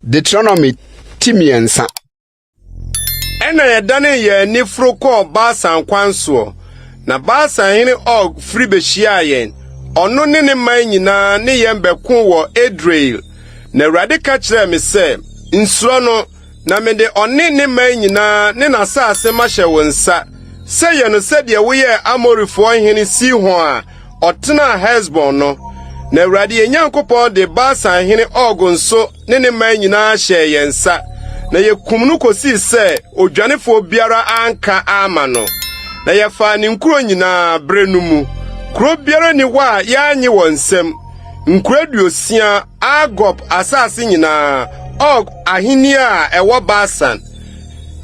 Deuteronomy ti mmiɛnsa ɛna yɛdane yɛn ani foro kɔɔ Basan kwan soɔ na Basan hene Og firi bɛhyiaa yɛn ɔno ne ne man nyinaa ne yɛn bɛko wɔ Edrei na Awurade ka kyerɛɛ me sɛ nsuro no na mede ɔne ne man nyinaa ne n'asase mahyɛ wo nsa sɛ yɛ no sɛdeɛ woyɛɛ Amorifoɔ hene Sihon a ɔtenaa Hesbon no. Na Awurade yɛn Nyankopɔn de Basan hene Og nso ne ne man nyinaa hyɛɛ yɛn nsa, na yɛkum no kɔsii sɛ odwanefoɔ biara anka amma no. Na yɛfaa ne nkuro nyinaa berɛ no mu. Kuro biara ni hɔ a yɛannye wɔn nsam. Nkuro aduosia, Argob asase nyinaa, Og ahennie a ɛwɔ Basan.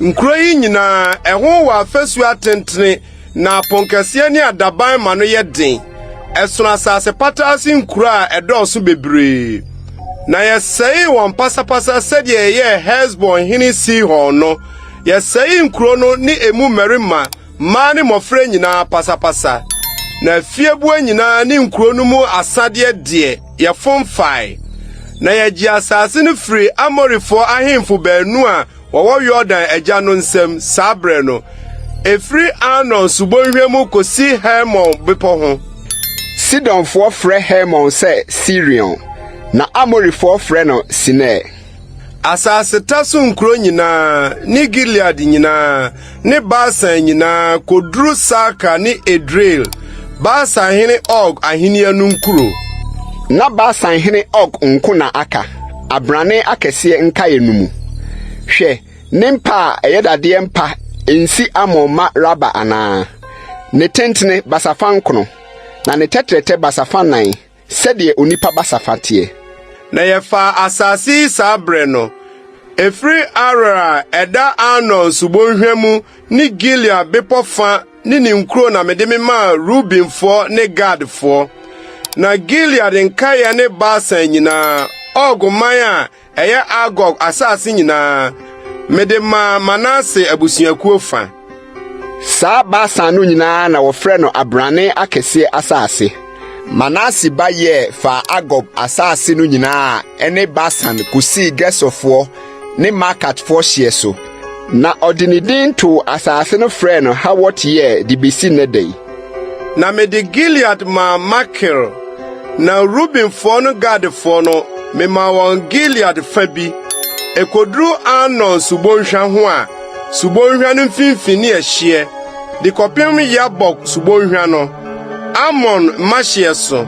Nkuro yi nyinaa, ɛho wɔ afasuo atentene, na aponkɛseɛ ne adaban ma no yɛ den. Ɛsono asase pataa ase nkuro a ɛdɔɔso bebree. Na yɛsɛee wɔn pasapasa sɛdeɛ yɛyɛɛ Hesbon hene Sihon no. Yɛsɛee nkuro no ne emu mmarima. Mmaa ne mmɔfra nyinaa pasapasa, na afieboa nyinaa ne nkuro no mu asadeɛ deɛ, yɛfom fae. Na yɛgye asase no firi Amorifoɔ ahemfo baanu a wɔwɔ Yordan agya no nsam saa berɛ no, ɛfiri Arnon subɔnhwa mu kɔsi Hermon bepɔ ho. Sidonfoɔ frɛ Hermon sɛ Sirion, na Amorifoɔ frɛ no Senir. Asaseta so nkuro nyinaa ne Gilead nyinaa ne Basan nyinaa kɔduru Salka ne Edrei, Basan hene Og ahennie no nkuro. Na Basan hene Og nko na aka abrane akɛseɛ nkaeɛ no mu. Hwɛ, ne mpa a ɛyɛ dadeɛ mpa nsi Amon mma Raba anaa? Ne tentene basafa nkron, na ne tɛtrɛtɛ basafa nan. Sɛdeɛ onipa basafa teɛ. Na yɛfaa asase yi saa berɛ no, ɛfiri Aroer a ɛda Arnon subɔnhwa mu ne Gilead bepɔ fa ne ne nkuro na mede me maa Rubenfoɔ ne Gadfoɔ. Na Gilead nkaeɛ ne Basan nyinaa, Og man a Ɛyɛ Argob asase nyinaa. Mede maa Manase abusuakuo fa. Saa Basan no nyinaa na wɔfrɛ no abrane akɛseɛ asase. Manase ba yɛɛ faa Argob asase no nyinaa a ɛne Basan kosii Gesurfoɔ ne Maakatfoɔ hyeɛ so. Na ɔde ne din too asase no frɛɛ no Hawot-Yair de besi nnɛ da yi. Na mede Gilead maa Makir, na Rubenfoɔ no Gadfoɔ no, memaa wɔn Gilead fa bi. Ɛkɔduru Arnon subɔnhwa ho a, subɔnhwa no mfimfini ne ɛhyeɛ, de kɔpem Yabok subɔnhwa no, Arnon mma hyeɛ so,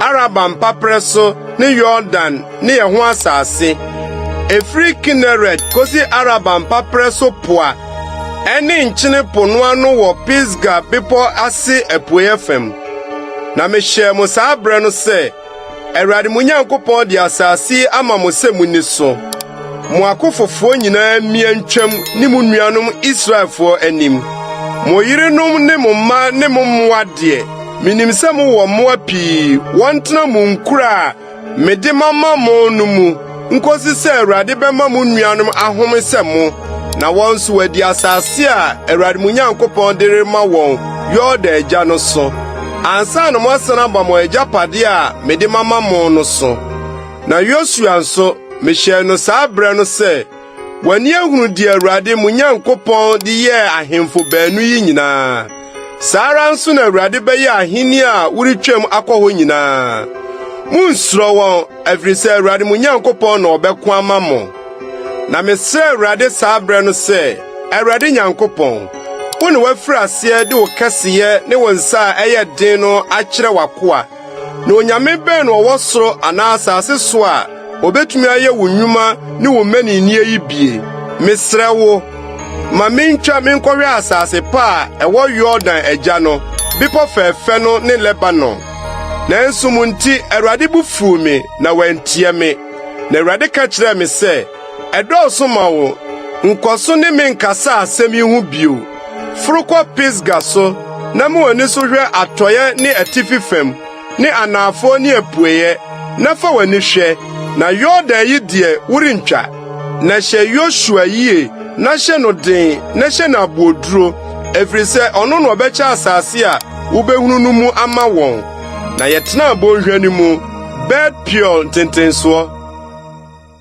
Araba mpaperɛ so ne Yordan ne ɛho asase. Ɛfiri Kineret kosi Araba mpaperɛ so po a ɛne Nkyene Po no ano wɔ Pisga bepɔ ase apueeɛ fam. Na mehyɛɛ mo saa berɛ no sɛ, Awurade mo Nyankopɔn de asase yi ama mo sɛ monni so. Mo akofofoɔ nyinaa mmia ntwam ne mo nuanom Israelfoɔ anim. Mo yerenom ne mo mma ne mo mmoa deɛ, menim sɛ mowɔ mmoa pii, wɔntena mo nkura a Mede mama mo no mu, nkosi sɛ Awurade bɛma mo nuanom ahome sɛ mo, na wɔn nso wɔadi asase a Awurade mo Nyankopɔn de rema wɔn Yordan agya no so, ansa na moasan aba mo agyapade a mede mama mo no so. Na Yosua nso, mehyɛɛ no saa bere no sɛ Wɔn ani ahunu deɛ Awurade mo Nyankopɔn de yɛɛ ahemfo baanu yi nyinaa. Saa ara nso na Awurade bɛyɛ ahenni a woretwam akɔ hɔ nyinaa. Munnsuro wɔn, ɛfiri sɛ Awurade mo Nyankopɔn na ɔbɛko ama mo. Na mesrɛ Awurade saa berɛ no sɛ, Awurade Nyankopɔn, wo na woafiri aseɛ de wo kɛseyɛ ne wo nsa a ɛyɛ den no akyerɛ w'akoa Na onyame bɛn na ɔwɔ soro anaa asase so a obetumi ayɛ wo nnwuma ne wo mmaninni yi bi? Mesrɛ wo, ma mintwa menkɔhwɛ asase pa a ɛwɔ Yordan agya no, bepɔ fɛfɛ no ne Lebanon. Nanso mo nti, Awurade bo fuw me na wantie me. Na Awurade ka kyerɛɛ me sɛ, Ɛdɔɔso ma wo! Nkɔ so ne me nkasa asɛm yi ho bio. Foro kɔ Pisga so na ma w'ani so hwɛ atɔeɛ ne atifi fam ne anaafoɔ ne apueeɛ, na fa w'ani hwɛ, na Yordan yi deɛ worentwa. Na hyɛ Yosua yie, na hyɛ no den, na hyɛ no aboɔduro, ɛfiri sɛ ɔno na ɔbɛkyɛ asase a wobɛhunu no mu ama wɔn. Na yɛtenaa bɔnhwa no mu, Bet-Peor ntentensoɔ.